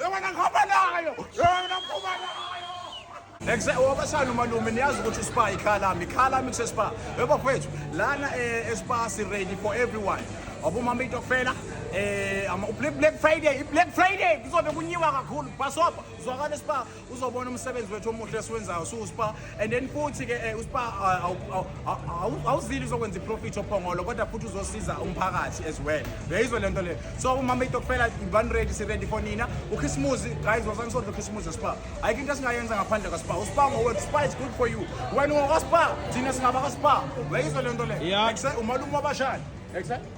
Yabona ngihamba nayo. Yabona ngihamba nayo. Exactly. Wabashana umalume niyazi ukuthi uSpa ikhala mi khala mi kuseSpa. Yebo kwethu lana eh, eSpa si ready for everyone. Abomama itokfela eh ama Black Friday, Black Friday kuzobe kunyiwa kakhulu. Bhasopa, zwakala eSpa. uzobona umsebenzi wethu omuhle esiwenzayo siwuspa and then futhi ke eh, uspa awuzili uzokwenza iprofit ophongolo kodwa futhi uzosiza umphakathi as well uyayizwa le nto le so umama itokufela one ready siready for nina ukhisimuzi guys wasanisondla ukhisimuzi spa ayikho into esingayenza ngaphandle kwaspa uspa ngowethu spa is good for you wena ungokaspa thina singaba kaspa uyayizwa le nto le umalume wabashani exactly